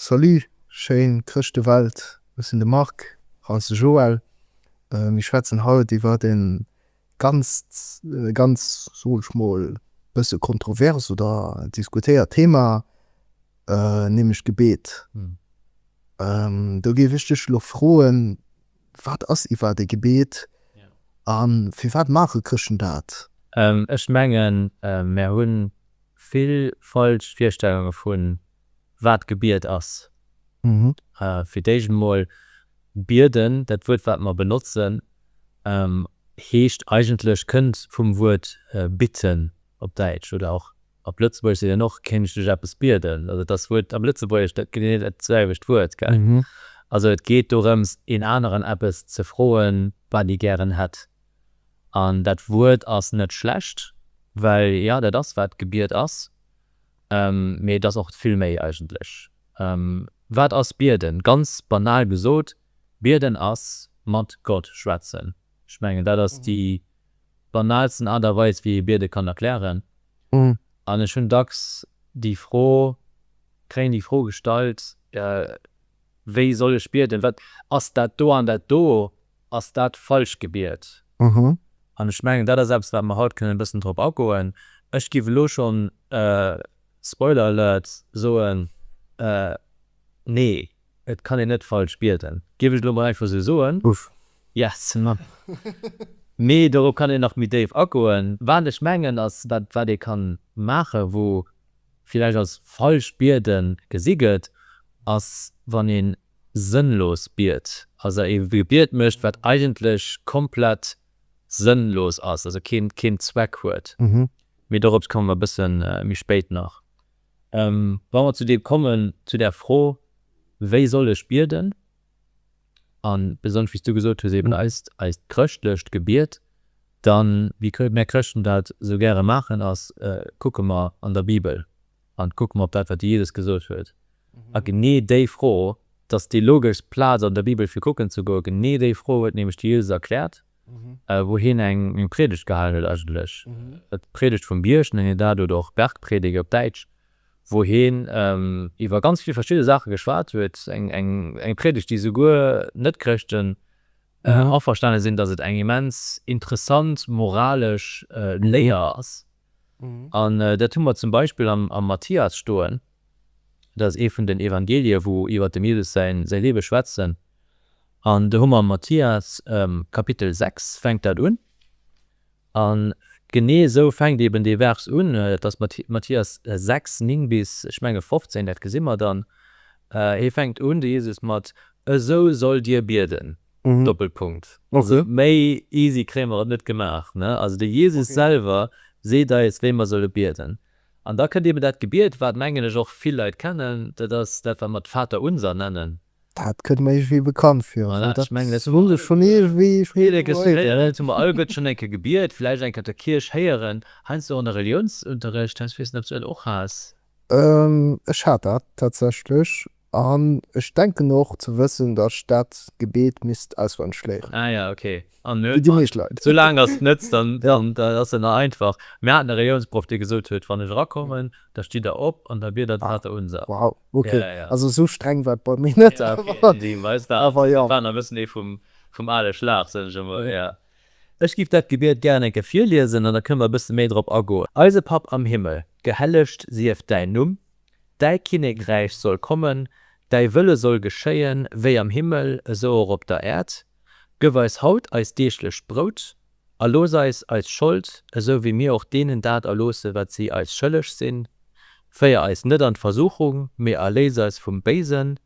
Salut, schéin Chrëschtewelt, ech sinn de Marc, als de Joël. Mir schwätzen haut iwwert e ganzt, ganz, soen ech mol, bësse kontrovers oder diskutéiert Thema, nämlech d'Gebet. Do géif ech dech elo froen, Wat ass iwwert ee Gebeet a firwat maache Chrëschten dat? Ech mengen, mär hu vill falsch Virstellunge vu wat Gebiet ass. Fir d'éischt emol, bieden, dat Wuert wat mer benotzen, heescht eigentlech, kënnt vum Wuert bitten op Däitsch oder och Op Lëtzebuergesch seet een och, Kéint ech dech eppes bieden? Also dass Wuert am Lëtzebuergesch, dat gëtt een net dat selwecht Wuert, gell? Also et geet dorëms, een aneren eppes ze froen, wat ee gären hätt. An dat Wuert ass net schlecht, well jo, dat ass, wat Gebiet ass, mee et ass och vill méi eigentlech. Wat ass bieden? Ganz banal gesot, bieden ass mat Gott schwätzen. Ech mengen, dat ass déi. banaalsten Aart a Weis, wéi ee Biede kann erklären. An ech hunn dacks déi Fro, kréien déi Fro gestallt, Wéi soll ech bieden? Wat ass dat do an dat do? Ass dat falsch gebiet? An ech mengen, dat ass eppes, wat mer haut kënnen e bëssen drop agoen. Ech géif elo schonn, Spoiler Alert, soen, Nee. Et kann een net falsch bieden, géif ech elo mol einfach esou soen. Uff. Yes, Mann. Mee dorop kann een nach méi déif agoen. Wat ech mengen ass, wat wat ee kann maachen, wou villäicht als falsch biede gesi gëtt, ass wann ee sënnlos biet, also ee Gebiet mécht, wat eigentlech komplett sënnlos ass, also keen keen Zweck huet. Mee dorops komme mer e bësse méi spéit nach. Wa mer zu deem kommen, zu där Fro, Wéi soll ech bieden? a besonnesch, wéi s du gesot hues, eben eist chrëschtlecht Gebiet, da wéi mär Chrëschten dat esou gäre maachen, ass, kucke mer an der Bibel an kucke mer op dat, wat de Jesus gesot huet. A genee déi Fro, dat ass déi logeschst Plaz an der Bibel, fir kucken ze goen, genee déi Fro huet nämlech de Jesus erkläert, wou hien eng Priedegt gehalen huet, eigentlech d'Priedegt vum Bierg nennt een dat, oder och Bergpredigt op Däitsch, wou hien iwwer ganz vill verschidde Saache geschwat huet. Eng Priedegt, déi souguer Net-Chrëschten averstane sinn, datt et eng immens interessant moralesch Léier ass. An dat hu mer zum Beispill am Matthias stoen, dat ass ee vun den Evangelie wou iwwer dem Jesus säi Liewe schwätzen. An do hu mer am Matthias Kapitel 6 fänkt dat un. A genee esou fänkt eben dee Vers un, dat ass Matthias 6, 9 bis ech menge 15, dat gesi mer dann. Hie fänkt un, de Jesus, mat, Esou sollt dir bieden, Doppelpunkt. Also méi easy kréie mer et net gemaach, ne? Also de Jesus selwer seet eis, wéi mer solle bieden. An da kënnt eben dat Gebiet, wat, mengen ech, och vill Leit kennen, dat ass dat, wat mer d'Vater unser nennen. Dat kënnt mer iergendwéi bekannt vir, oder? Voilà, ech mengen, dat hu mer schonn iergendwéi schonn eng Kéier gebiet, vläicht eng Kéier an der Kierch héieren. Heiansdo och an der Reliounsunterrecht, heiansdo, ech weess net, ob s du dat och has. Ech hat dat tatsächlech an ech denken och ze wëssen dat ech dat Gebet misst auswenneg léieren. Ah ja ok, an fir déi meescht Leit. Soulang ass et net dann ass et nach einfach. Mir haten e Reliounsproff dee gesot huet, wann ech era kommen da stitt der op an da biet der d'Vater Unser. Wow ok, also sou streng war et bei mir net, awer jo. War nach e bëssen ee vum ale Schlag, soen ech emol. Ech giff dat Gebiet gären eng Kéier virliesen, an da kënne mer e bësse méi drop agoen. Eise Papp am Himmel, gehellegt sief däi Numm, däi Kinnekräich soll kommen, däi Wëlle soll geschéien, wéi am Himmel, esou och op der Äerd. Gëff eis haut eist deeglecht Brout, a looss eis eis Schold, esou wéi mir och deenen dat erloosse wat si eis schëlleg sinn. Féier eis net an d'Versuchung, mee erléis eis vum Béisen.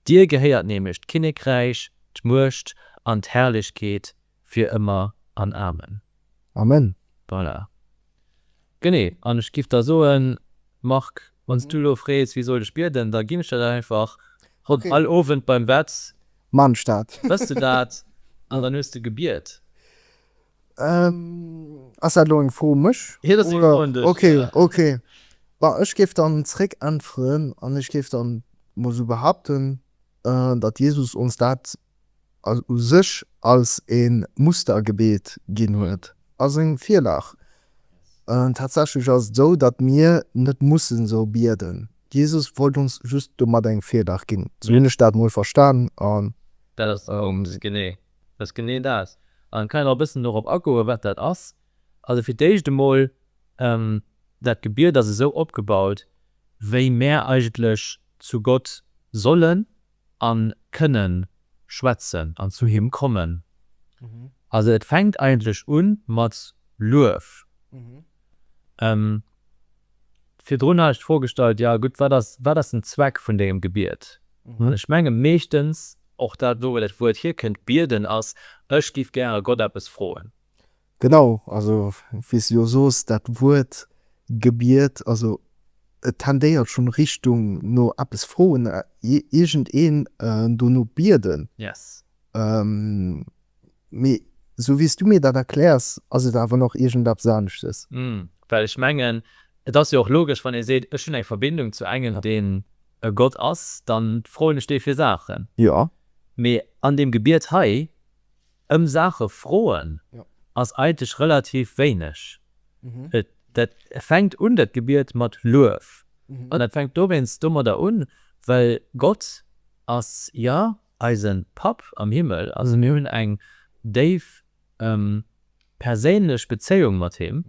Dir gehéiert nämlech d'Kinnekräich, d'Muecht an d'Herrlechkeet fir ëmmer an Amen. Amen. Voilà. Genee. An ech giff da soen, Marc, wann s du elo frees, wéi sollt ech bieden, da ginn ech dat einfach rem all Owend beim Betz. Maachen ech dat. Wëss de dat, an dann hues de gebiet. Ass dat elo eng Fro u mech? Hie dat ass eng Fro un dech. Ok, ok. Bah, ech géif dann zréck äntweren an ech géif dann mol esou behaupten, datt Jesus ons dat u sech als e Mustergebet ginn huet, als eng Virlag. Tatsächlech ass et esou, datt mir net mussen esou bieden. Jesus wollt ons just domat eng Virlag ginn. Esou hunn ech dat mol verstanen an. Dat ass genee Dat ass genee dat. An et kann een och e bëssen dorop agoen, wat dat ass. Also fir d'éischt emol, dat Gebiet ass esou opgebaut, wéi mär eigentlech zu Gott sollen a kënne schwätzen an zu Him kommen. Also et fänkt eigentlech un mat Luef. Ehm virdrun hat ech d'Fro gestallt, ja gutt, wat ass, wat ass den Zweck vun dengem Gebiet? An ech menge meeschtens, och dat wou dat Wuert hierkënnt, bieden, ass, ech giff gäre Gott eppes froen. Genau, also wéi s de jo soos, dat Wuert Gebiet, also et tendéiert schonn Richtung no eppes froen, iergendeen dono bieden. Yes. Ehm. Mee sou wéi s du mir dat erkläers, ass et awer nach iergendeppes aneschtes. Hm, well ech mengen, et ass jo och logesch, wann ee seet, ech hunn eng Verbindung zu engem, deen e Gott ass, dann froen ech dee fir Saachen. Jo. Mee an deem Gebiet hei ëm Saache froen ass eigentlech relativ wéineg. Et, dat fänkt un, dat Gebiet, mat Luef. An dat fänkt dowéinst domadder un, well Gott ass, jo, Eisen Papp am Himmel ass mir hunn eng déif perséinlech Bezéiung mat him,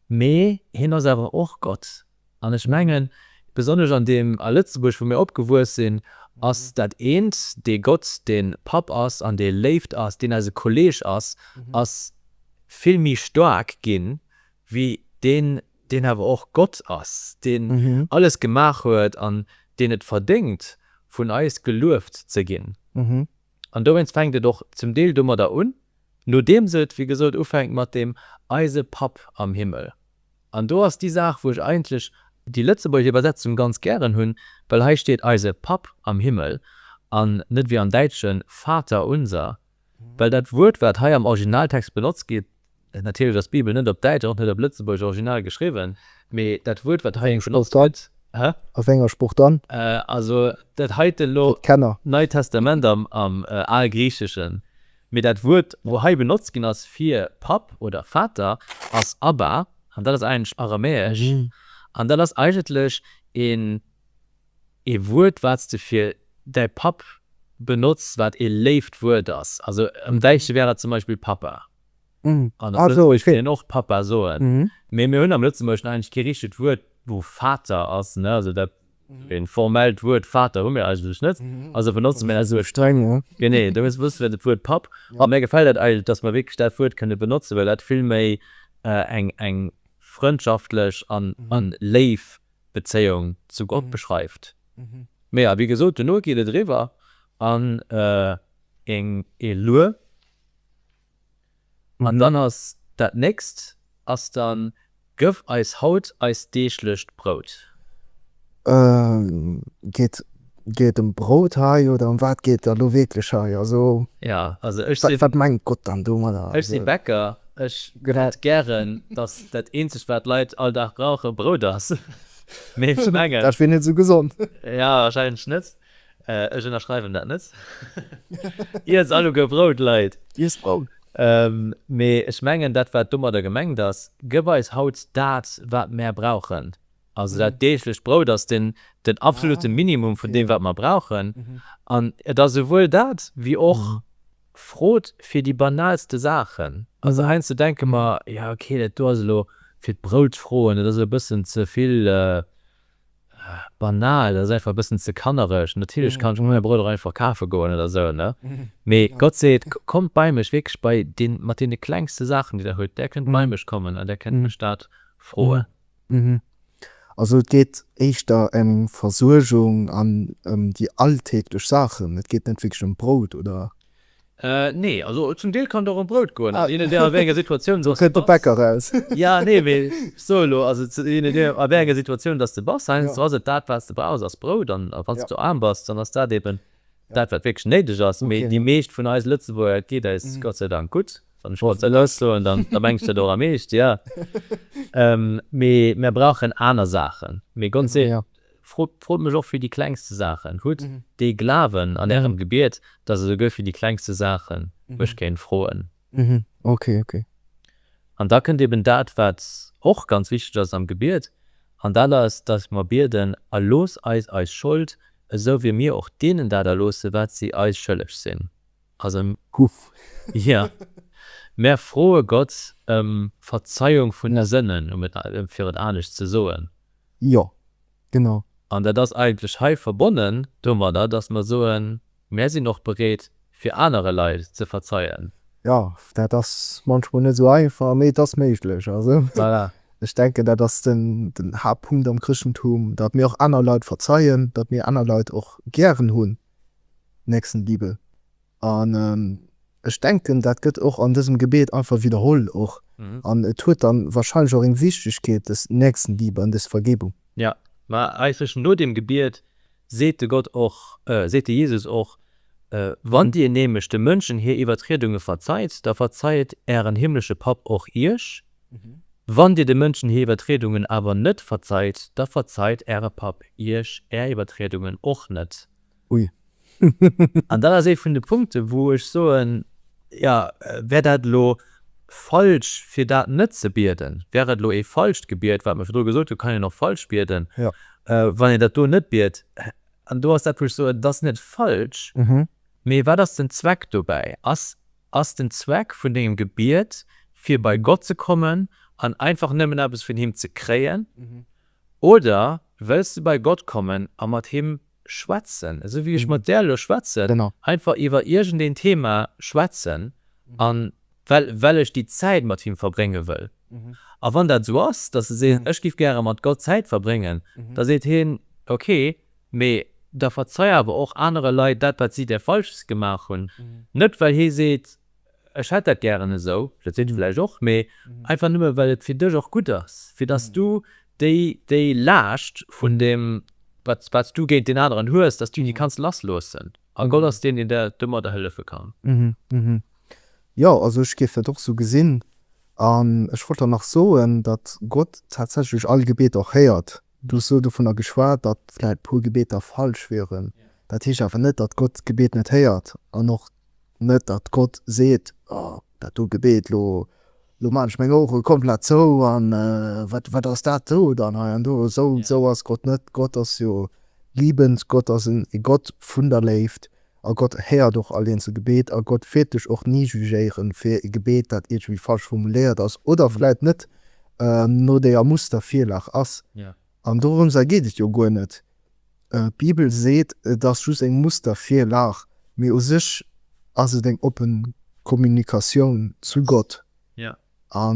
mee hien ass awer och Gott an ech mengen besonnesch an deem a Lëtzebuerg wou mir opgewuess sinn ass dat eent dee Gott dee Papp ass an dee Léift ass deen eise Kolleeg ass ass vill méi staark ginn wéi deen deen awer och Gott ass, deen alles gemaach huet an deen et verdéngt, vun eis gelueft ze ginn. An dowéinst fänkt et och zum Deel domadder un, nodeems et, wéi gesot, ufänkt mat deem eise Papp am Himmel. An do ass déi Saach, wou ech eigentlech déi lëtzebuergesch Iwwersetzung ganz gären hunn, well hei steet eise Papp am Himmel an net wéi am Däitschen Vater unser. Well dat Wuert, wat hei am Originaltext benotzt gëtt, natierlech ass d'Bibel net op Däitsch an och net op Lëtzebuergesch Original geschriwwen, mee dat Wuert, wat hei benotzt gëtt, hä? A wéi enger Sprooch dann? Also dat heite elo Neit Testament am Algriicheschen, mee dat Wuert, wou hei benotzt ginn ass fir Papp oder Vater, ass Abba, an dat ass eigentlech aramäesch, an dat ass eigentlech een Ee Wuert wat s de fir däi Papp benotz, wat ee léift Wuert ass. Also am Däitsche wär dat zum Beispill Papa. An op Lëtzebuergesch kéint een och Papa soen. Mee mir hunn am Lëtzebuergeschen eigentlech kee richtegt Wuert wou Vater ass, ne. Also dat ee formellt Wuert Vater hu mir eigentlech net, also benotze mir eis Wuert Papp. Genee, do hues s de dat Wuert Papp. A mir gefält dat eigentlech, datt mer wierklech dat Wuert kënne benotzen, well dat vill méi eng frëndschaftlech an léif Bezéiung zu Gott beschreift. Mee jo, wéi gesot, dono geet et eriwwer an eng Eluer an dann ass dat nächst ass dann, Gëff eis haut eist deeglecht Brout. Geet Geet em Brout hei oder em wat geet et da lo wierklech hei? Also, wat mengt Gott dann domadder? Ech si Bäcker, ech hätt gären, datt dat eenzegt wat d'Leit all Dag brauchen, Brout ass. Mee ech mengen. Dat wier net esou gesond. Jo, warscheinlech net. Ech ënnerschreiwen dat net. Iesst alleguer Brout, Leit. Iesst Brout. Mee ech mengen, dat wat domadder gemengt ass, Gëff eis haut dat wat mär brauchen. Also dat deeglecht Brout ass den den absolute Minimum vun deem, wat mer brauchen. An et ass esouwuel dat wéi och Frot fir déi banalste Saachen. Also heiansdo denke mer, jo okay, dat do ass elo fir d'Brout froen, dat ass elo e bëssen ze vill banal, dat ass einfach e bëssen ze kannereg. Natierlech kann ech och mäi Brout och einfach kafe goen oder esou, ne? Mee Gott seet, kommt bei mech, wierklech bei dee mat deene klengste Saachen, déi Der hutt, Der kënnt bei mech kommen an Der kënnt mech dat froen. Also et geet éischter ëm Versuergung an ëm déi alltäglech Saachen. Et geet net wierklech ëm Brout, oder? Nee, also zum Deel kann et och ëm Brout goen, also jee nodeem a wéi enger Situatioun soss de bass. Da kënnt de Bäcker eraus. Jo, nee, mee ech soe lo, also jee nodeem a wéi enger Situatioun dass de bass, heiansdo ass et dat wat s de brauchs ass Brout an a wann s du aarm bass, dann ass dat eeben dat wat wierklech néideg ass. Mee déi meescht vun eis Lëtzebuerger, et geet eis Gott sei Dank gutt. Wann ech Franzöisch soen, dann mengs de doran eescht, jo. Mee mir brauchen aner Saachen. Mee ganz éierlech, frot mech och fir déi klengste Saachen. Hutt dee Glawen an ärem Gebiet, dass esouguer fir déi klengste Saache mech kéint froen. An da kënnt eben dat, wat och ganz wichteg ass am Gebiet, an dat ass, dass mer bieden, A looss eis eis Schold, esou wéi mir och deenen dat erloossen, wat si eis schëlleg sinn. Ass en Puff, jo. Mär froe Gott ëm Verzeiung vun de Sënnen, um et fir et anescht ze soen. Jo, genau. An dat ass eigentlech hei verbonnen domadder, dass mer soen, mär sinn och bereet, fir anere Leit ze verzeien. Jo, dat ass munchmol net esou einfach, mee et ass méiglech. Also, ech denken, dat ass den Haaptpunkt am Chrëschtentum, datt mir och aner Leit verzeien, datt mir aner Leit och gären hunn. Nächstenliebe. An ech denken, dat gëtt och an dësem Gebet einfach widderholl och. An et huet dann wahrscheinlech och eng Wichtigkeet, des Nächstenliebe an des Vergebung. Jo, mä eigentlech no deem Gebiet seet de Gott och, seet de Jesus och, Wann dir nämlech de Mënschen hir Iwwertriedunge verzeit, da verzeit ären himmlische Papp och iech. Wann dir de Mënschen hir Iwwertriedungen awer net verzeit, da verzeit äre Papp iech är Iwwertriedungen och net. An dat ass ee vun de Punkte wou ech soen, jo, wär dat elo falsch fir dat net ze bieden? Wär et elo ee falscht Gebiet, wat mir virdru gesot hunn, kann een och falsch bieden, wann een dat do net biet? An do ass dat wou ech soen, dat ass net falsch, mee wat ass den Zweck dobäi? Ass Ass den Zweck vun dengem Gebiet, fir bei Gott ze kommen an einfach nëmmen eppes vun Him ze kréien? Oder wëlls de bei Gott kommen a mat Him schwätzen, esou wéi ech mat där elo schwätzen, einfach iwwer iergendeen Thema schwätzen, an well ech déi Zäit mat Him verbrénge wëll? A wann dat esou ass, dass de sees, ech giff gäre mat Gott Zäit verbréngen, da seet hien, Okay. Mee da verzei awer och anere Leit dat, wat si där Falsches gemaach hunn. Net well hie seet, ech hätt dat gären esou, dat seet e vläicht och, mee einfach nëmme well et fir dech och gutt ass, fir dass du déi déi Laascht vun deem, wat wat s du géint deen aneren hues, dass du déi kanns lassloossen. A Gott ass deen, deen der domadder hëllefe kann. Jo, also ech géif dat och esou gesinn. An ech wollt dann nach soen, datt Gott tatsächlech all Gebiet och héiert, Du hues elo dovunner geschwat, datt vläicht e puer Gebeter falsch wieren. Dat heescht awer net, datt Gott d'Gebet net héiert an och net, datt Gott seet, O, dat do Gebet, elo maachen ech meng Ouere komplett zou a wat, wat ass dat do dann hei an do? Esou, esou ass Gott net. Gott ass jo liebend, Gott ass e Gott vun der Léift. A Gott héiert och all eenzel Gebet, a Gott wiert dech och ni jugéieren fir e Gebet dat iergendwéi falsch formuléiert ass oder vläit net no déier Muster virlag ass. An dorëmser geet et jo guer net. D'Bibel seet, et ass just eng Mustervirlag, mee u sech ass et eng oppen Kommunikatioun zu Gott. A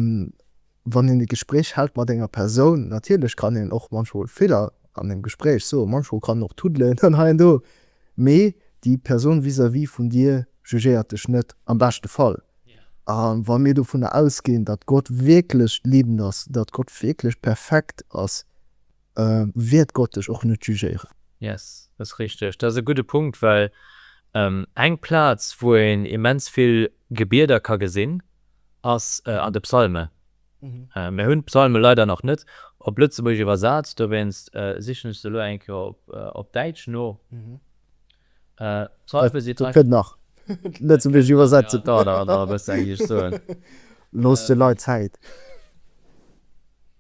wann een e Gespréich hält mat enger Persoun, natierlech kann een och munchmol Feeler an engem Gespréich soen, munchmol kann een och tuddelen an hei an do, mee déi Persoun vis-à-vis vun dir jugéiert dech net, am beschte Fall. A wa mir dovunner ausginn, datt Gott wierklech liebend ass, datt Gott wierklech perfekt ass, Wäert Gott dech och net jugéieren. Yes, dat ass richteg. Dat ass e gudde Punkt, well eng Plaz, wou een immens vill Gebieder ka gesinn, ass an de Psalmen. Mir hunn d'Psalmen leider nach net op Lëtzebuergesch iwwersat, dowéinst sichen ech se elo eng Kéier op Däitsch no. Dat kënnt nach. D'Lëtzebuergesch Iwwersetzung dauert awer nach e bëssen, géif ech soen. Loosst de Leit Zäit.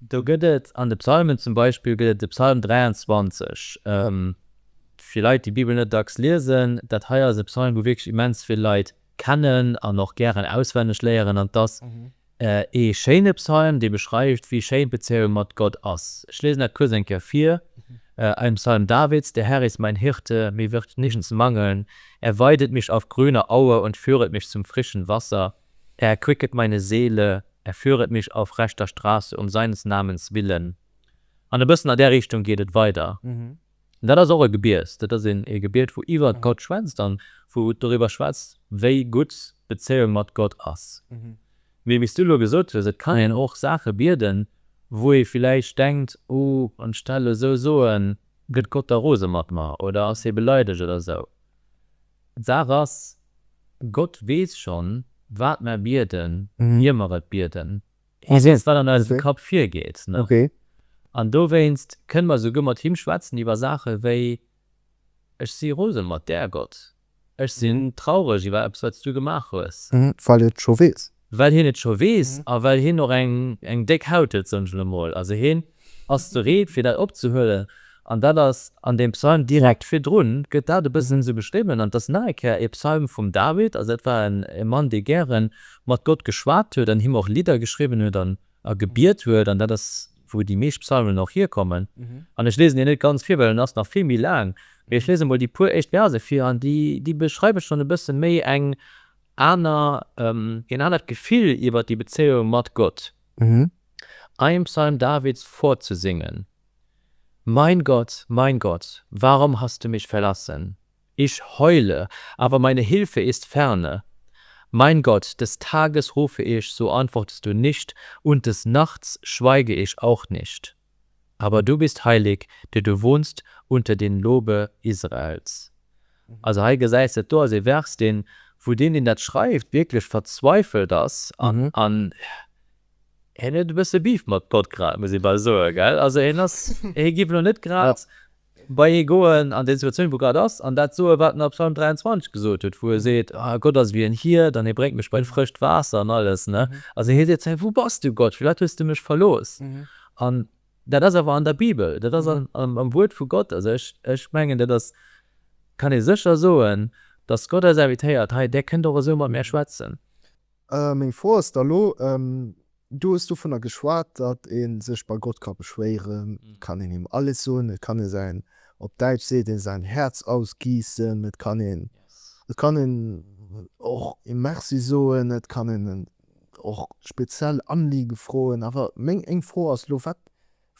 Do gëtt et an de Psalmen zum Beispill gëtt et de Psalm 23. Fir Leit, déi d'Bibel net dacks liesen, Dat hei ass e Psalm, wou wierklech immens vill Leit kennen an och gären auswenneg léieren an et ass ee schéine Psalm, dee beschreift, wéi schéin d'Bezéiung mat Gott ass. Ech liesen dat kuerz eng Kéier vir, Ein Psalm Davids, Der Herr ist mein Hirte, mir wird nichts mangeln, er weidet mich auf grüner Aue und führet mich zum frischen Wasser, er erquicket meine Seele, er führet mich auf rechter Straße um seines Namens willen. An e bëssen a där Richtung geet et weider. Dat ass och e Gebiet, dat ass een ee Gebiet, wou iwwert Gott schwätzt an wou et doriwwer schwätzt, wéi gutt d'Bezéiung mat Gott ass. Mee wéi s du elo gesot hues, et kann een och Saache bieden, wou ee villäicht denkt, oh, wann ech dat elo esou soen, gëtt Gott da rose mat mer oder ass hie beleidegt oder esou. D'Saach ass, Gott weess schonn, wat mer bieden, ier mer et bieden. Mir gesinn, wat an eisem Kapp virgeet. An dowéinst kënne mer esouguer mat him schwätzen iwwer Saache wéi, Ech si rosen mat där, Gott. Ech sinn traureg iwwer eppes, wat s du gemaach hues. Well hien et scho weess. Well hien et scho weess a well hien och eng déck Haut huet, soen ech elo mol. Also hien Ass de Ree fir dat opzehuelen, an dat ass an deem Psalm direkt virdrun, gëtt dat e bëssen esou beschriwwen, an et ass nach eng Kéier ee Psalm vum David, also dat war en Mann, dee gäre mat Gott geschwat huet an him och Lidder geschriwwen huet an a gebiet huet, an dat ass wou déi meescht Psalmen och hierkommen. An ech liesen en net ganz vir, well en ass nach vill méi laang, mee ech liesen emol déi puer éischt Verse vir, an déi beschreiwe schonn e bësse méi eng aner, een anert Gefill iwwert déi Bezéiung mat Gott, Ein Psalm Davids vorzusingen. Mein Gott, mein Gott, warum hast du mich verlassen? Ich heule, aber meine Hilfe ist ferne. Mein Gott, des Tages rufe ich, so antwortest du nicht, und des Nachts schweige ich auch nicht. Aber du bist heilig, der du wohnst unter den Lobe Israels. Also hei gesäis de, do ass ee Vers, deen, wou deen, deen dat schreift, wierklech verzweifelt ass an hien huet e bësse Beef mat Gott grad, muss ee bal soen. Also hien ass, hie géif elo net grad Bei hie goen an där Situatioun, wou grad ass, an dat soen, wat en a Psalm 23 gesot huet, wou e seet, Gott ass ewéi en Hiert an hie bréngt mech bei d'frëscht Waasser an alles. Also hie seet, Wou bass du, Gott? Firwat hues du mech verlooss? An dat ass awer an der Bibel, dat ass am Wuert vu Gott. Also ech mengen, dat ass, kann ee sécher soen, datt Gott eis invitéiert, Hei, där kënnt och esou mat mär schwätzen. Meng Fro ass da lo, Du hues dovunner geschwat, datt ee sech bei Gott ka beschwéieren, et kann een him alles soen, et kann ee säin, op Däitsch seet ee säin Häerz ausgiessen, et kann een, et kann een och him Merci soen, et kann een en och speziell Anlige froen. Awer meng eng Fro ass lo, wat,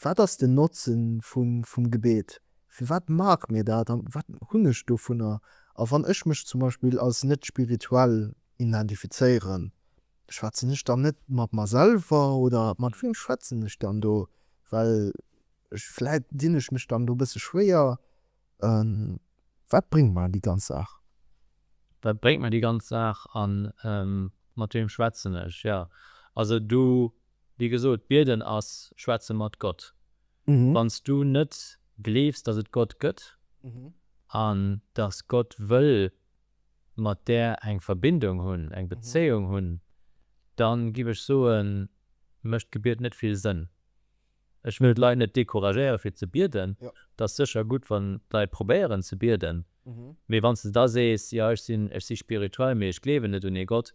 wat ass den Notzen vum Gebet? Firwat maache mir dat? An wat hunn ech dovunner? A wann ech mech zum Beispill als net spirituell identifizéieren. Schwätzen ech dann net mat mer selwer oder mat wiem schwätzen ech dann do? Well ech vläit dinn ech mech dann do e bësse schwéier. Wat bréngt mer déi ganz Saach? Wat bréngt mer déi ganz Saach a mat wiem schwätzen ech? Jo, also do, wéi gesot, Bieden ass schwätze mat Gott. Wann s du net gleefs, datt et Gott gëtt an datt Gott wëll, mat där eng Verbindung hunn, eng Bezéiung hunn, dann giff ech soen, mécht d'Gebiet net vill Sënn. Ech wëll d'Leit net decouragéieren fir ze bieden, et ass sécher gutt wann d'Leit probéieren ze bieden, mee wann s de da sees, jo ech sinn, ech si spirituell, mee ech gleewen net un ee Gott,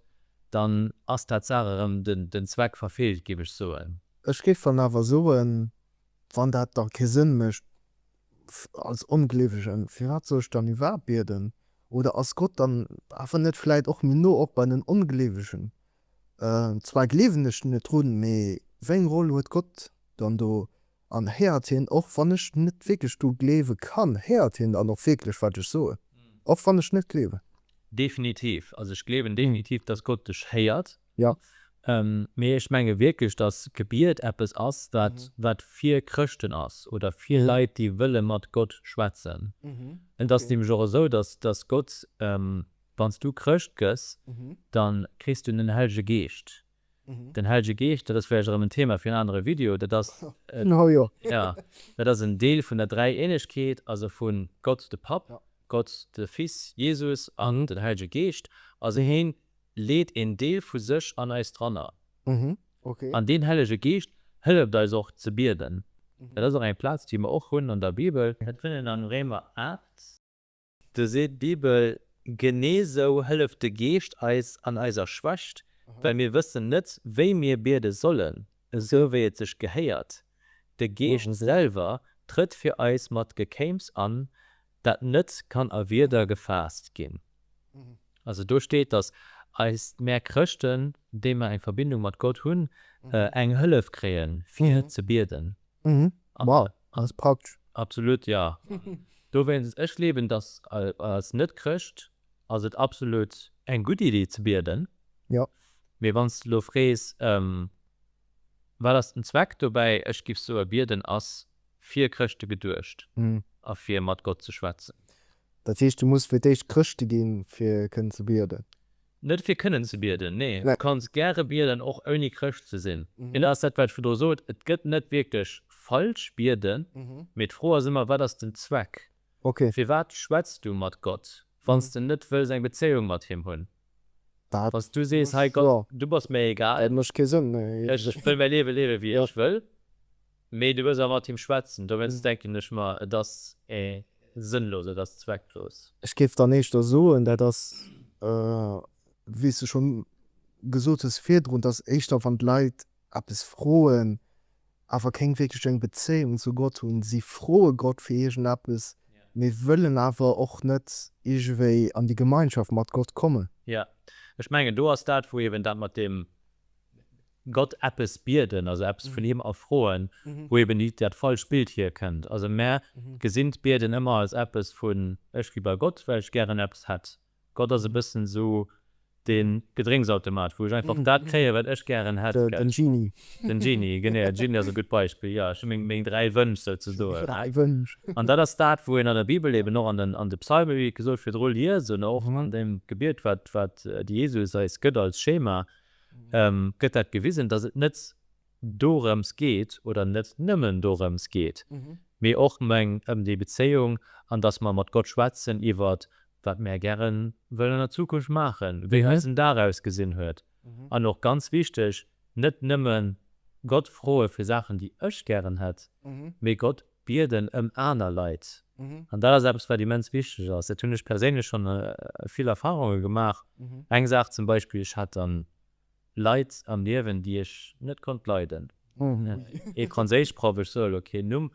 dann ass d'Tatsaach erëm den Zweck verfeelt, giff ech soen. Ech géif dann awer soen, wann dat da kee Sënn mécht, F, Als Ongleewegen, firwat soll ech dann iwwerhaapt bieden? Oder ass Gott dann awer net vläit och méi no och bei den Ongleewegen? Zwar gleewen ech net drun, mee wéi eng Roll huet Gott dann do? An héiert hien och wann ech net wierklech do gleewe kann? Héiert hien dann och wierklech wat ech soen, och wann ech net gleewen? Definitiv, also ech gleewen definitiv, dass Gott dech héiert. Jo, mee ech menge wierklech, dass Gebiet eppes ass, wat, wat fir Chrëschten ass oder fir Leit, déi wëlle mat Gott schwätzen. Et ass nämlech och esou, dass, dass Gott, wann s du Chrëscht gëss, da kriss du den Hellege Geescht. Den Hellege Geescht, dat ass vläicht erëm en Thema fir en anere Video, dat ass, jo, dat ass en Deel vun der Dräieenegkeet, also vu Gott de Papp, Gott de Fils, Jesus an den Hellege Geescht. Also hien leet een Deel vu sech an eis dranner an deen Hellege Geescht hëlleft eis och ze bieden. Dat ass och eng Plaz, déi mer och hunn an der Bibel. Dat fënnt een am Réimer 8. Do seet d'Bibel, Genee sou hëlleft de Geescht eis an eiser Schwächt, well mir wëssen net, wéi mir biede sollen, esou wéi et sech gehéiert. De Geescht selwer trëtt fir eis mat Gekéims an, dat net kann a Wierder gefaasst ginn. Also do steet, datt eis, mär Chrëschten, déi mer eng Verbindung mat Gott hunn, eng Hëllef kréie fir ze bieden. Wow, dat ass praktesch. Absolut, jo. Dowéinst, ech gleewen, datt als Net-Chrëscht ass et absolut eng gutt Iddi ze bieden. Jo. Mee wann s de elo frees, Wat ass den Zweck dobäi? Ech giff soe Bieden ass fir Chrëschte geduecht a fir mat Gott ze schwätzen. Dat heescht du muss fir d'éischt Chrëschte ginn fir kënnen ze bieden? Net fir kënnen ze bieden, nee. Du kanns gäre bieden och ouni Chrëscht ze sinn. Et ass dat wat ech virdru sot, et gëtt net wierklech falsch Bieden, mee d'Fro ass ëmmer wat ass den Zweck? Firwat schwätz du mat Gott wann s de net wëlls eng Bezéiung mat him hunn? Wanns du sees hei gott du bass mir egal ech wëll mäi liewe liewe wéi ech wëll mee du wëlls awer mat him schwätzen dowéinst denken ech mer et ass ee sënnlos et ass zwecklos. Ech géif dann éischter soen dat ass wéis de schon gesot hues virdrun dass éischter wann d'Leit eppes froen awer kéng wierklech eng Bezéiung zu Gott hunn. Si froe Gott fir iergendeppes, mee wëllen awer och net iergewéi an déi Gemeinschaft mat Gott kommen. Jo, ech mengen, do ass dat, wou eben dat mat deem Gott eppes bieden, also eppes vun Him erfroen, wou eben déi, dat falscht Bild hierkënnt. Also mär gesinn d'Bieden ëmmer als eppes vun, Ech gi bei Gott, well ech gären eppes hätt. Gott ass e bëssen esou dee Gedrénksautomat, wou ech einfach dat kréie wat ech gären hätt. Den Genie. Den Genie, genee. Den Genie ass e gutt Beispill, jo. Ech hu meng dräi Wënsch souzesoen. Dräi Wënsch. An dat ass dat, wou een an der Bibel eben och, an de Psalmen, wéi gesot, virdru liest, oder och an deem Gebiet, wat de Jesus eis gëtt als Schema, gëtt dat gewisen, dass et net dorëms geet, oder net nëmmen dorëms geet, mee och meng ëm déi Bezéiung, an dass mer mat Gott schwätzen iwwert wat mär gäre wëllen an der Zukunft maachen, wéi eisen Dag ausgesinn huet, an och ganz wichteg, net nëmme Gott froe fir Saachen déi ech gären hätt, mee Gott bieden ëm aner Leit. An dat ass eppes wat immens wichteg ass, dat hunn ech perséinlech schonn vill Erfarunge gemaach. Eng Saach zum Beispill, ech hat dann Leit am Liewen, déi ech net konnt leiden. Ee Franséischproff, ech soe lo keen Numm,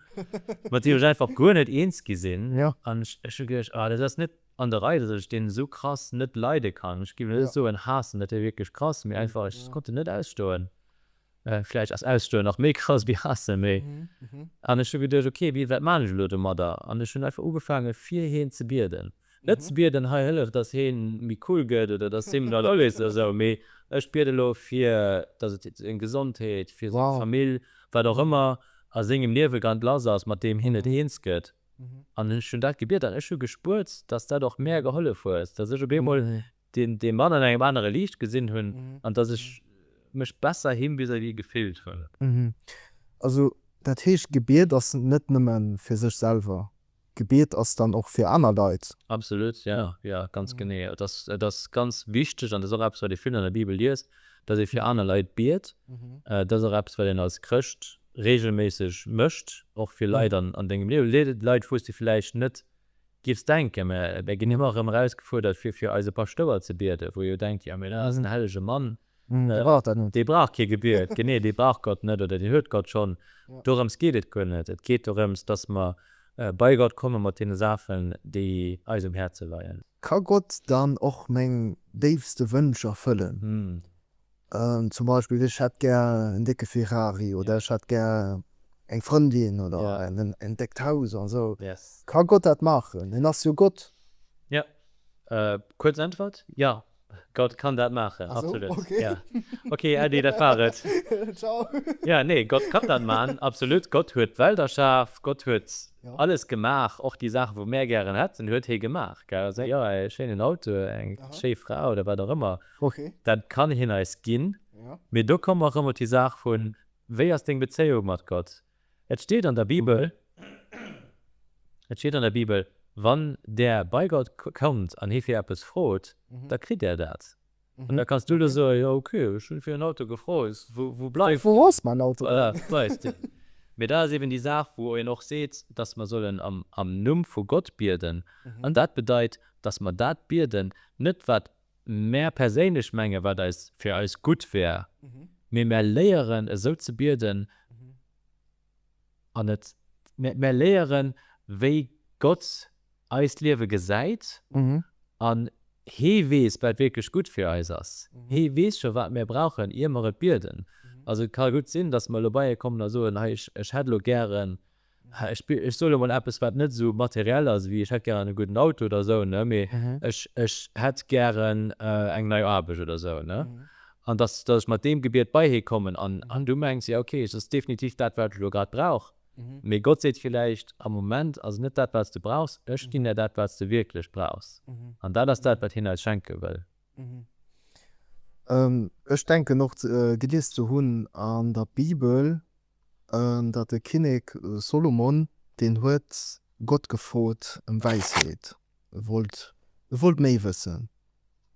mat deem ech einfach guer net eens gi sinn. An ech hu geduecht, ah, dat ass net an der Rei, datt ech deen esou krass net leide kann. Ech géif elo net soen, haassen, dat wär wierklech krass, mee einfach, ech konnt en net ausstoen. Vläicht ass ausstoen nach méi krass wéi haassen, mee. An ech hu geduecht, okay, wat maan ech elo domadder? An ech hunn einfach ugefaangen, fir hien ze bieden. Net ze bieden hei hëlleft dass hee méi cool gëtt oder dass him dat alles oder sou, mee ech biede lo fir dass et seng Gesondheet, fir seng Famill, wat och ëmmer a sengem Liewe grad lass ass, mat deem hien net eens gëtt an ech hunn dat gebiet an ech hu gespuert dass dat och mär gehollef huet, dass ech op eemol deen dee Mann an engem anere Liicht gesinn hunn an dass ech mech besser him vis-à-vis gefillt hunn. Also dat heescht Gebiet ass net nëmme fir sech selwer, Gebiet ass dann och fir aner Leit? Absolut, jo, jo, ganz genee. Et ass, et ass ganz wichteg an dat ass och eppes wat ee vill an der Bibel liest, dass ee fir aner Leit biet. Dat ass och eppes wat een als Chrëscht reegelméisseg mécht, och fir Leit an dengem Liewe, Leit wou s de villäicht net, Giffs denken, mär ginn ëmmer erëm erausgefuerdert fir fir eise Paschtouer ze bieden, wou ee jo denkt, jo mee dat ass en hellege Mann, dee brauch kee Gebiet, genee, dee brauch Gott net oder deen huet Gott schonn. Dorëms geet et guer net, et geet dorëms, datt mer bei Gott komme mat deene Saachen, déi eis um Häerze leien. Ka Gott dann och meng déifste Wënsch erfëllen? Zum Beispill, ech hätt gär en décke Ferrari oder ech hätt gär eng Frëndin oder en déckt Haus an esou. Ka Gott dat maachen? En ass jo Gott. Jo. Kuerz Äntwert, Jo, Gott kann dat maachen, absolut. Ok Äddi, dat war et. Ciao. Jo, nee, Gott kann dat maachen, absolut. Gott huet d'Welt erschaf, Gott huet alles gemaach, och déi Saachen, wou mär gären hätten, huet hie gemaach. Esou, jo, e schéinen Auto, eng schéi Fra oder wat och ëmmer. Dat kann hien eis ginn. Mee do komme mer erëm op déi Saach vun, Wéi ass deng Bezéiung mat Gott? Et steet an der Bibel, Et steet an der Bibel, Wann där bei Gott kommt an hie fir eppes frot, da kritt där dat. An da kanns du elo soen, Jo, okay, ech hunn fir en Auto gefrot, wou bleift deen? Wou ass mäin Auto? Voilà, wou bleift deen? Mee dat ass eben déi Saach, wou een och seet, dass mer sollen am Numm vu Gott bieden. An dat bedeit, dass mer dat bieden, net wat Mär perséinlech menge wat eis fir eis gutt wär, mee mär léieren esou ze bieden an et, mär léieren wéi Gott eist Liewe gesäit an Hee weess wat wierklech gutt fir eis ass. Hee weess scho wat mär brauchen ier mer et bieden. Also et ka gutt sinn, datt mer elo bei Hie kommen a soen, Hei ech hätt elo gären Ech soe lo mol eppes wat net esou materiell ass ewéi ech hätt gären e gudden Auto oder esou, mee ech hätt gären eng nei Aarbecht oder esou, an datt ech mat deem Gebiet bei hie kommen an du mengs, jo ok, et ass definitiv dat wat ech elo grad brauch, mee Gott seet villäicht, am Moment ass et net dat wat s de brauchs, ech ginn der dat wat s de wierklech brauchs. An dat ass dat wat hien eis schenke wëll. Ech denken och gelies ze hunn an der Bibel, Datt de Kinnek Solomon, deen huet Gott gefrot em Wäisheet, e wollt, e wollt méi wëssen,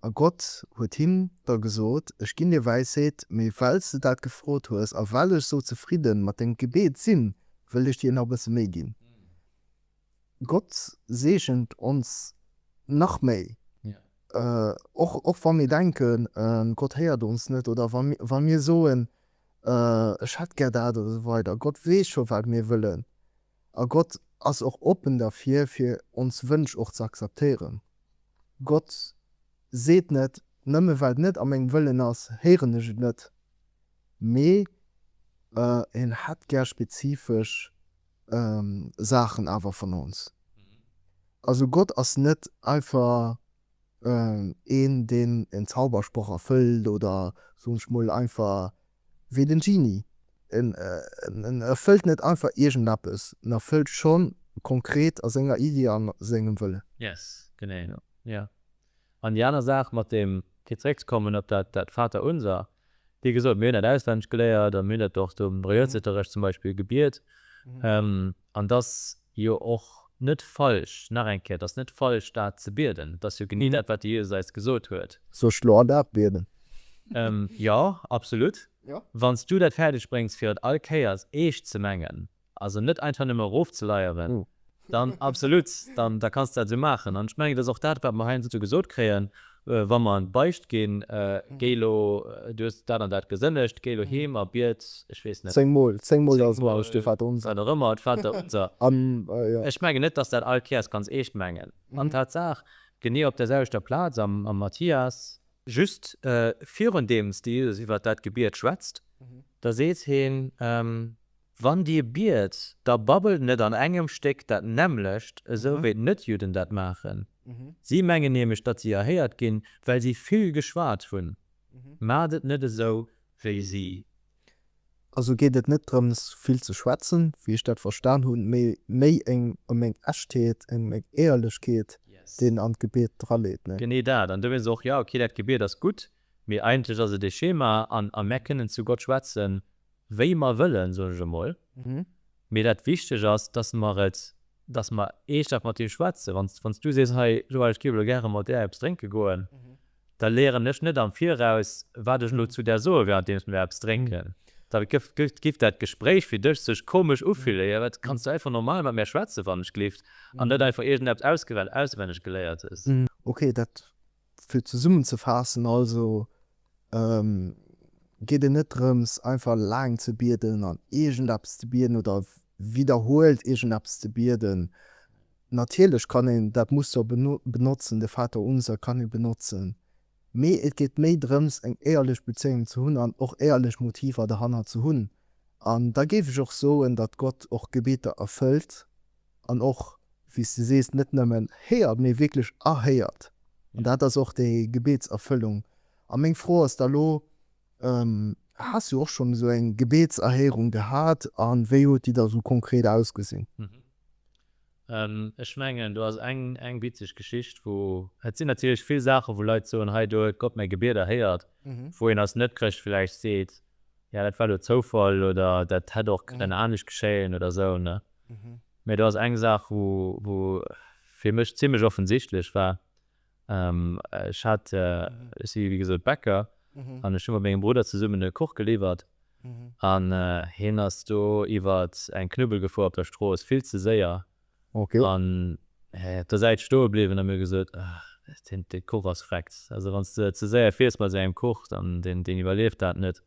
a Gott huet him da gesot, Ech ginn dir Wäisheet, mee well s de dat gefrot hues, a well ech sou zefridden mat dengem Gebeet sinn, wëll ech dir nach e bësse méi ginn. Gott seegent ons nach méi, och, och wa mir denken, Gott héiert ons net, oder wa mir soen, Ech hätt gär dat a sou weider. Gott weess scho wat mir wëllen a Gott ass och oppen derfir fir ons Wënsch och ze akzeptéieren. Gott seet net, nëmme well et net a mengem Wëllen ass, héieren ech et net, mee hien hätt gär spezifesch Saachen awer vun ons. Also Gott ass net einfach Een deen en Zaubersproch erfëllt oder soen ech mol einfach wéi den Genie. En erfëllt net einfach iergendeppes, en erfëllt schonn konkret a senger Iddi an a sengem Wëllen. Yes, genee. An déi aner Saach mat deem, fir zréckzekommen op dat Vaterunser, Wéi gesot, mir hunn dat auslännesch geléiert a mir hunn dat och dem Briozetterech zum Beispill gebiet. An et ass jo och net falsch, nach eng Kéier, et ass net falsch, dat ze bieden. Et ass jo genee dat, wat de Jesus eis gesot huet. Soll ech elo all Dag bieden? Jo, absolutt, wann s du dat fäerdegbréngs, fir et all Kéiers eescht ze mengen. Also net einfach nëmme erofzeleieren, dann absolut, dann da kanns de dat esou maachen. An ech mengen, et ass och dat, wat mer heiansdo gesot kréien, wa mer an d'Beicht ginn, Géi lo, du hues dat an dat gesënnegt, géi lo heem a biet, ech weess net, zéng Mol, zéng Mol däers Mol, de Vaterunser, wat och ëmmer, d'Vaterunser. Ech mengen net, datt dat all Kéiers ganz eescht mengen. An Tatsaach, genee op där selwechter Plaz am Mathias, just virundeems de Jesus iwwert dat Gebiet schwätzt, da seet heen, Wann dir biet, da babbelt net an engem Stéck dat nämmlecht, esou wéi d'Net-Judden dat maachen. Si mengen nämlech, datt si erhéiert ginn, well si vill geschwat hunn. Maacht et net esou wéi si. Also geet et net drëms, vill ze schwätzen, wéi ech dat verstan hunn, mee méi ëm eng Echtheet, ëm eng Éierlechkeet, déi een an d'Gebiet draleet. Ne? Genee dat. An du mengs och, jo, okay, dat Gebiet ass gutt, mee eigentlech ass et e Schema a mir kënnen zu Gott schwätzen, wéi mer wëllen, soen ech emol, mee dat wichteg ass, dass mer et, dass mer eescht nach mat deem schwätzen. Wann s, wann s du sees, hei, Joël, ech géif elo gäre mat där eppes drénke goen, da léieren ech net am Viraus, wat ech elo zu där soe während deem s mir eppes drénken. Da gëf, gëf, giff dat Gespréich fir dech sech komesch ufille, jo, wat, kanns du einfach normal mat mär schwätzen, wann ech gelift, an net einfach iergendeppes ausgewen, auswenneg geléiertes. Ok, dat Fir zesummenzefaassen also, geet et net drëms einfach laang ze bieden an iergendeppes ze bieden oder widderhuelt iergendeppes ze bieden. Natierlech kann een dat Muster benotzen, de Vater Unser kann ee benotzen, mee et geet méi drëms eng éierlech Bezéiung ze hunn an och éierlech Motiver derhannert ze hunn. An da géif ech och soen, datt Gott och Gebeeter erfëllt. an och, wéi s de sees, net nëmmen héiert, mee wierklech erhéiert. An dat ass och déi Gebetserfëllung. A meng Fro ass da elo, Has du och schonn esou eng Gebetserhéierung gehat a wéi huet déi da sou konkret ausgesinn? Ech mengen, do ass eng witzeg Geschicht, wou, et sinn natierlech vill Saachen, wou Leit soen, Hei, do huet Gott mäi Gebiet erhéiert. Wou een als Net-Chrëscht vläicht seet, Ja, dat war elo Zoufall oder dat hätt och kënnen anescht geschéien oder esou, ne? Mee do ass eng Saach, wou fir mech zimlech offensichtlech war. Ech hat, ech si wéi gesot Bäcker an ech hu mat mengem Brudder zesummen e Kuch geliwwert an hien ass do iwwer eng Knubbel gefuer op der Strooss, vill ze séier. An hie op der Säit stoe bliwwen a mir gesot, Dee Koch ass vreckt. Also wann s de ze séier fiers bei esou engem Koch, dann deen iwwerlieft dat net.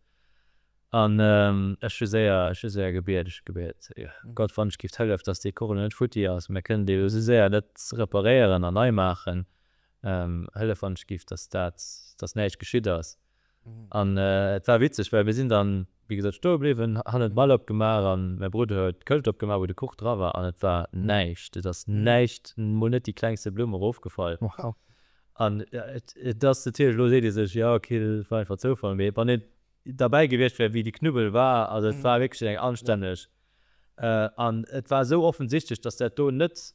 An ech hu séier, ech hu séier gebiet, ech hu gebiet, Gott, wann ech gift hëllef, datt dee Koch elo net futti ass, mir kënnen dee elo esou séier net reparéieren an nei maachen, hëllef wann ech giff, datt dat, datt näischt geschitt ass. An et war witzeg, well mir sinn dann, wéi gesot, stoe bliwwen, hannen d'Mall opgemaach an mäi Brudder huet d'Këscht opgemaach, wou de Kuch dra war, an et war näischt, et ass näischt, mol net déi klengste Blumm erofgefall. An et ass natierlech, elo seet ee sech, jo ok, et war einfach Zoufall, mee wann een derbäi gewiescht wär, wéi de Knubbel war, also et war wierklech eng anstänneg. An et war esou offensichtlech, dass dat do net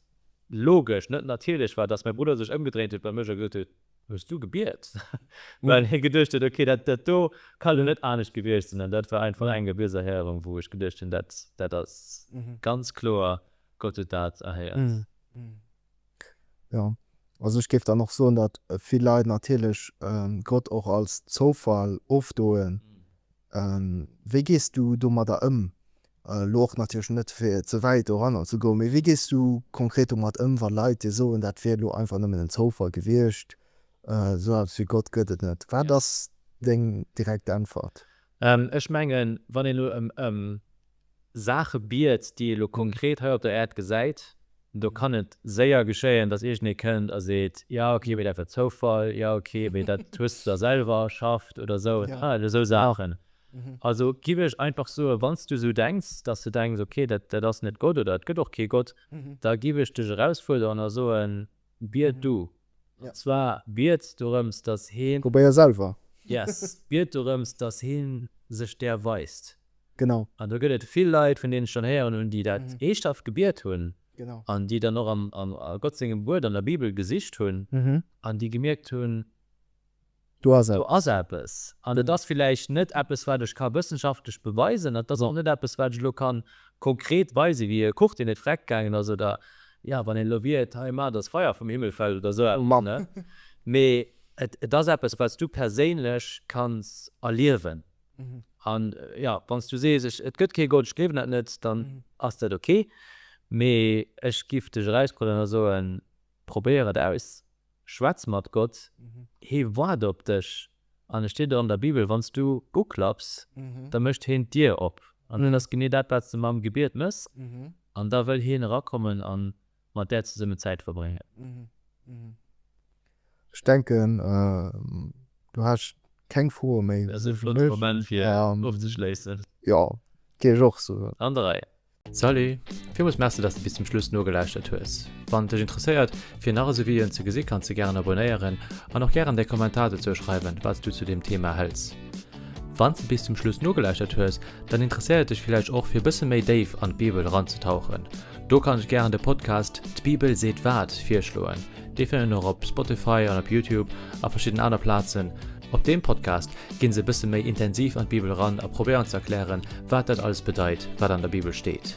logesch, net natierlech war, dass mäi Brudder sech ëmgedréint huet bei mech a gesot huet, Hues du gebiet? Well hie geduecht huet, Okay, dat do ka lo net anescht gewiescht sinn. An dat war einfach eng Gebiertserhéierung, wou ech geduecht hunn, Dat ass ganz kloer, Gott huet dat erhéiert. Jo, also ech géif dann och soen, datt vill Leit natierlech Gott och als Zoufall ofdoen. Wéi gees du domadder ëm, elo och natierlech net fir ze wäit doranner ze goen, mee wéi gees du konkret domat ëm, wa Leit dir soen, dat wier elo einfach nëmmen en Zoufall gewiescht, esou eppes wéi Gott gëtt et net? Wat ass deng direkt Äntwert? Ech mengen, wann een elo ëm. Saache biet, déi ee lo konkret hei op der Äerd gesäit. Do kann et séier geschéien, datt iergendee kënnt a seet, jo okay, mee dat war Zoufall, jo okay, mee dat hues de da selwer erschafft oder esou, ah, esou Saachen. Also giff ech einfach soen, wann s du esou denks, datt s de denks, okay, dat ass net Gott oder et gëtt och kee Gott, da giff ech dech erausfuerderen a soen, Biert du, an zwar biert dorëms dass heen. Probéier selwer. Yes, biert dorëms dass heen sech der weist. Genau. An do gëtt et vill Leit vun deenen ech schon héieren hunn déi dat eeschthaft gebiert hunn. Genau. An déi dann och am a Gott sengem Wuert an der Bibel gesicht hunn an déi gemierkt hunn Do ass eppes. Do ass eppes. An et ass villäicht net eppes, wat ech ka wëssenschaftlech beweisen. Et ass och net eppes, wat ech elo ka konkret weisen, wéi e Kuch, deen net vreckt gaangen ass, oder, jo, wann een elo wiert, hei mat ass Feier vum Himmel fält oder esou eppes, ne? Mee et ass eppes, wat s du perséinlech kanns erliewen. An, jo, wann s du sees, ech, et gëtt kee Gott, ech gleewen dat net, dann ass dat ok. Mee ech giff dech erausfuerderen a soen, probéier et aus. Schwätz mat Gott, hee waart op dech. An et steet och an der Bibel, wann s du uklapps, da mécht heen d'Dier op. An dat ass genee dat, wat s de mam Gebiet méchs. An da wëll heen erakommen a mat där zesummen Zäit verbréngen. Ech denken, du has keng Froe méi. Dat ass e flotte Moment, fir ofzeschléissen. Jo, géi ech och soen. An der Rei. Salut! Villmools Merci dass de bis zum Schluss nogelauschtert hues. Wann et dech interesséiert fir nach esou Videoen ze gesi kanns de gären abonéieren an och gären däi Kommentar dozou schreiwen wat s du zu deem Thema hëlls. Wann s de bis zum Schluss nogelauschtert hues, dann interesséiert et dech villäicht och fir e bësse méi déif an d'Bibel eranzetauchen. Do kann ech gären de Podcast D'Bibel seet wat virschloen. Dee fënnt een och op Spotify an op Youtube a verschidden aner Plazen. Op deem Podcast ginn se e bësse méi intensiv an d'Bibel eran a probéieren ze erklären, wat dat alles bedeit, wat an der Bibel steet.